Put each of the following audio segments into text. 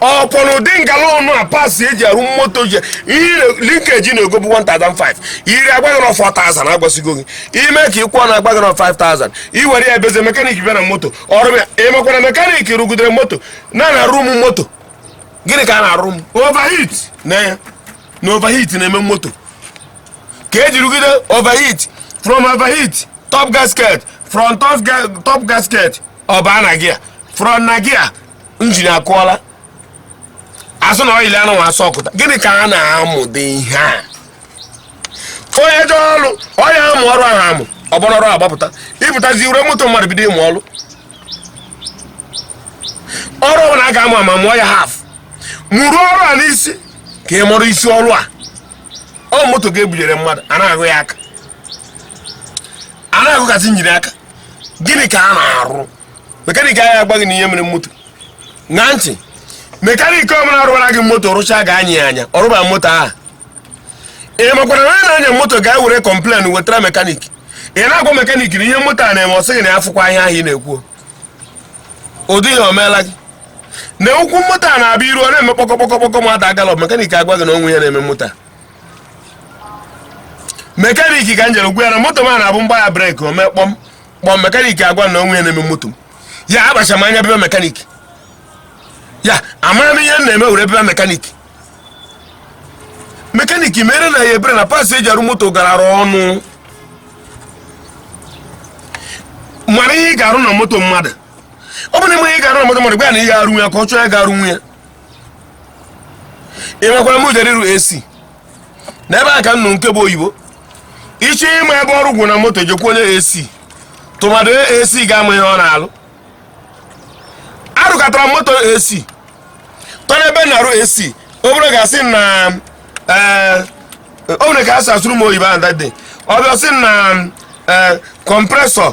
ọ kwa na ụdị ngala ọnụ a parts eji arụ moto ji ihe linkage na-egobu 1005 iri agwa gị na 4000 agwasịgo gị ime ka ị kwụọ na agwa gị na 5000 i were ya ebeze mekanik bịa na moto ọrụ ya emekwara mekanik rụgidere moto na na-arụ m moto gịnị ka a na-arụ m overheat na ya na overheat na-eme moto ka eji rụgide overheat from overheat top gasket from top ga- top gasket ọ baa na gia from na gia njin akụọla a sị na ọyịlị anụ asụ ọkụta gịnị ka a na-amụde ihe a onye jọ ọrụ onye amụ ọrụ ahụ amụ ọgbara ọrụ agbapụta ị pụtazi were moto mmadụ bido ịmụ ọrụ ọrụ ọbụla a ga-amụ amụ mụọ ya haf mụrụ ọrụ a n'isi ka ị mụrụ isi ọrụ a ọ moto ga-ebunyere mmadụ a na-ahụ ya aka a na-agụgasị njiri aka gịnị ka a na-arụ mekanik anyị agwa gị na ihe mere moto na ntị mekanik ọbụla rụwara gị moto rụchaa ga-anya ya anya ọ rụba moto ahụ ị makwara na onye na-anya moto ga were kọmplen wetara mekanik ị na-agwa mekanik na ihe moto a na-eme ọ sị gị na ya afụkwa ihe ahụ ị na-ekwu ụdị ya o meela gị na ụkwụ moto a na-abịa iru ọ na-eme kpọkọkpọkọkpọkọ mmadụ agalọ mekanik agwa gị na o nweghị ihe na-eme moto a mekaniki ka m jere gwa ya na moto m a na-abụ m gbaa ya breki o mee kpọm kpọm mekaniki agwa na o nweghị ihe na-eme moto m ya agbasaa m anya bịa be mekaniki ya amara m ihe m na-eme were bịa be mekaniki mekaniki meere anyị ebere na parts eji arụ moto galara ọnụ mara ihe ị ga-arụ na moto mmadụ ọ bụrụ na ị ma ihe ị ga-arụ na moto mmadụ gwa ya na ihe arụ ya ka ọ chọọ ya ga-arụ nwa ya e nwekwara m jere ịrụ ac n'ebe a ka m nụrụ nke bụ oyibo ị chọọ ịma ebe ọrụ gwụ na moto jekwuo onye ac tụmadụ ac ga-ama ihe ọ na-arụ arụkatara m moto ac tọrọ ebe na-arụ ac obere oge a sị na ee o nwere ka e si sụọrọ m oyibo ahụ that day ọ bịa sị na ee kọmpresọ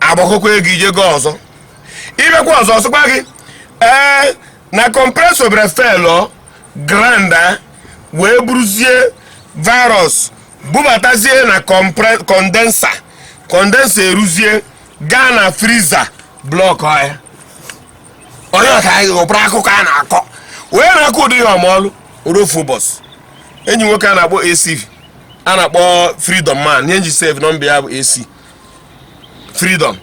agbakọkwa ego ije gị ọzọ ị bịakwa ọzọ ọ sịkwa gị ee na kọmpresọ bịara felọ granda wee buruzie virus bubatazie na kondensa kondensa eruzie gaa na friza blọkụọ ya onye ọka anyị ghọbụrụ akụkọ a na-akọ onye na-akọ ụdị ihe ọ mụrụ ruo ofu ụbọchị enyi nwoke a na-akpọ ac a na-akpọ freedom man ihe m ji save nọmba ya bụ ac freedom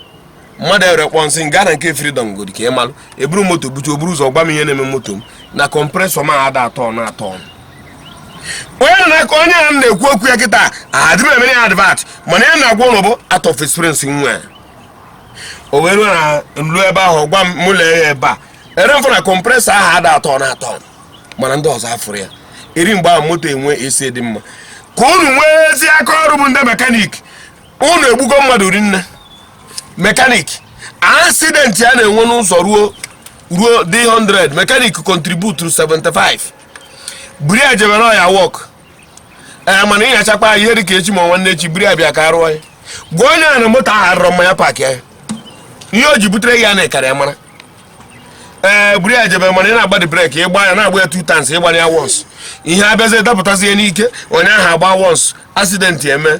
mmadụ ewere kpọọ m sị gaa na nke freedom godi ka ị malụ eburu moto bute o buru ụzọ gwa m ihe na-eme moto m na kọmpresọ m ada atọ na atọ ọnụ onye nọ n'aka onye a na-ekwu okwu ya kịta adịrọ m emere ya advat mana ihe m na-agwa unu bụ out of experience nwa ya o wee ruo na nlu ebe ahụ gwa m mụ lee ya ebe a ere mfụ na kọmpresọ ahụ ada atọ na atọ ọnụ mana ndị ọzọ afụrụ ya eri mgbe ahụ moto enwe AC dị mma ka unu nwee ezi aka ọrụ bụ ndị mekanik unu egbugo mmadụ rinne mekanik asidenti a na-enwe n'ụzọ ruo ruo 100 mekanik kontributuru 75 buru ya jebe na ọ ya wọk ee mana ịnyachakwa ya ihe dịka echi ma nwanne echi buru ya bịa ka arụọ ya gwa onye a na moto ahụ adịrọ mma ya paakị ya ihe o ji butere gị ya na ị karị ya mara ee buru ya jebe mana ị na-agbadi breki ịgba ya na-agba ya two times ị gbara ya wons ihe abịazi dapụtazie n'ike onye ahụ agba wons asidenti eme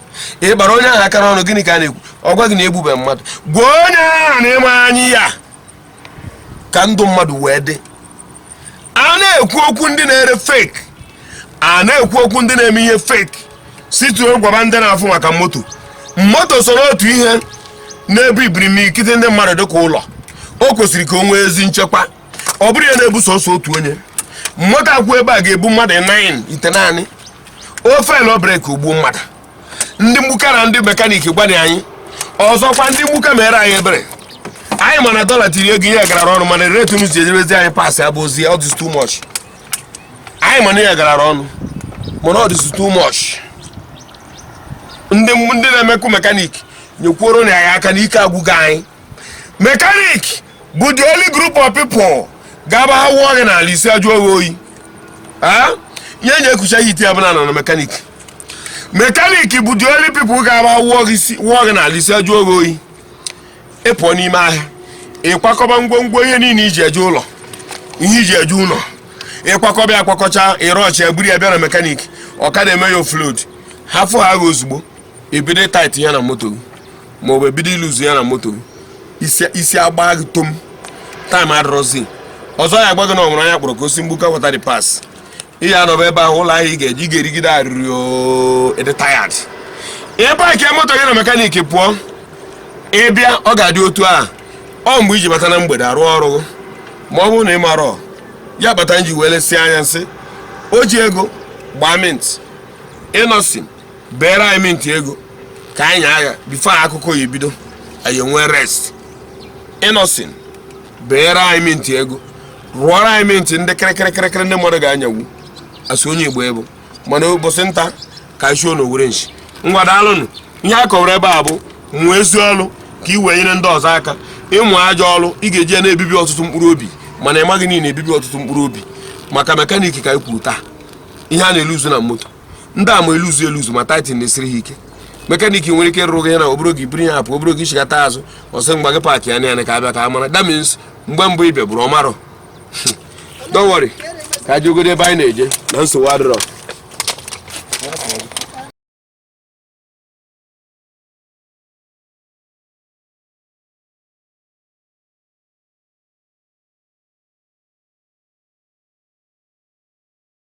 ị gbara onye ahụ aka n'ọnụ gịnị ka a na-ekwu ọ gwa gị na egbube mmadụ gwa onye ahụ na ị ma anya ya ka ndụ mmadụ wee dị a na-ekwu okwu ndị na-ere fake a na-ekwu okwu ndị na-eme ihe fake situo gwaba ndị na-afụ maka moto moto so n'otu ihe na-ebu imirikiti ndị mmadụ dịka ụlọ o kwesịrị ka o nwee ezi nchekwa ọ bụrọ ihe na-ebu sọsọ otu onye mmadụ akwụ ebe a ga-ebu mmadụ 9 itenaanị ọ feelụ breki o gbuo mmadụ ndị mgbuka na ndị mekaniki gbanye anyị ọzọkwa ndị mgbuka meere anyị ebere anyị ma na dọla tiri ego ihe garara ọnụ mana rate unu si enyebezi anyị paasị abụ ozi ọ dịzi too much anyị ma na ihe garara ọnụ mana ọ dịzi too much ndị ndị na-emekwu mekaniki nyekwuoro anyị aka na ike agwụgo anyị mekanik bụ the only group of people ga-aba ha wụọ gị n'ala isi ajụọ gị oyi Ah? ihe eji ekwucha ya etu a bụ na a nọ na mekanik mekanik bụ the only people ga-aba wụọ gị isi- wụọ gị n'ala isi ajụọ gị oyi ị pụọ n'ime ahịa ị kwakọba ngwongwo ihe niile iji eje ụlọ ihe iji eje ụlọ ị kwakọba ya akwakọcha ịrọchi ya buru ya bịa na mekanik ọkada eme ya oflod hafụ ha agha ozugbo ebido tait ya na moto ma ọ bụ ebido luzu ya na moto isi agba gị tom taịm adịrọzi ọzọ ya agwa gị na o nwere onye ọ kpọrọ ka o si mgbuka wata di pas ị ya anọba ebe ahụ ụlọ ahịa ị ga-eji ga-erigide arịrị ị dị tayad ị paakị moto gị na mekaniki pụọ ị bịa ọ ga-adị otu a ọ mgbe i ji bata na mgbede arụ ọrụ gị ma ọ bụrụ na ị marọ ihe kpata m ji wee lesịa anya sị o ji ego gbaa mint ịnọsin beere anyị mint ego ka anyị nyaa ha before akụkọ ya ebido anyị enwee rest Innoson beere anyị mint ego rụọrọ anyị mint ndị kịrịkịrịkịrịkịrị ndị mmadụ ga-anyanwu a sị onye igbo ebo mana ụbọchị nta ka anyị shụọ n'owere nshi ngwa daalụnụ ihe a kọwara ebe a bụ mụọ ezi ọrụ ka ị wee nyere ndị ọzọ aka ị mụọ ajọ ọrụ ị ga-eji ya na-ebibi ọtụtụ mkpụrụ obi mana ị maghị na ị na-ebibi ọtụtụ mkpụrụ obi maka mekaniki ka anyị kwuru taa ihe a na-eluzu na moto ndị a ma eluzu eluzu ma tightening na-esiri ha ike mekanik nwere ike rụọrọ gị na ọ bụrụ gị buru ya apụ ọ bụrụ gị chighata azụ ọ sị ngwa gị paakị ya na ka abịa ka a mara damage mgbe mbụ ị bịa buru ọ marọ don't worry ka e jegodu ebe anyị na-eje na nsogbu adịrọ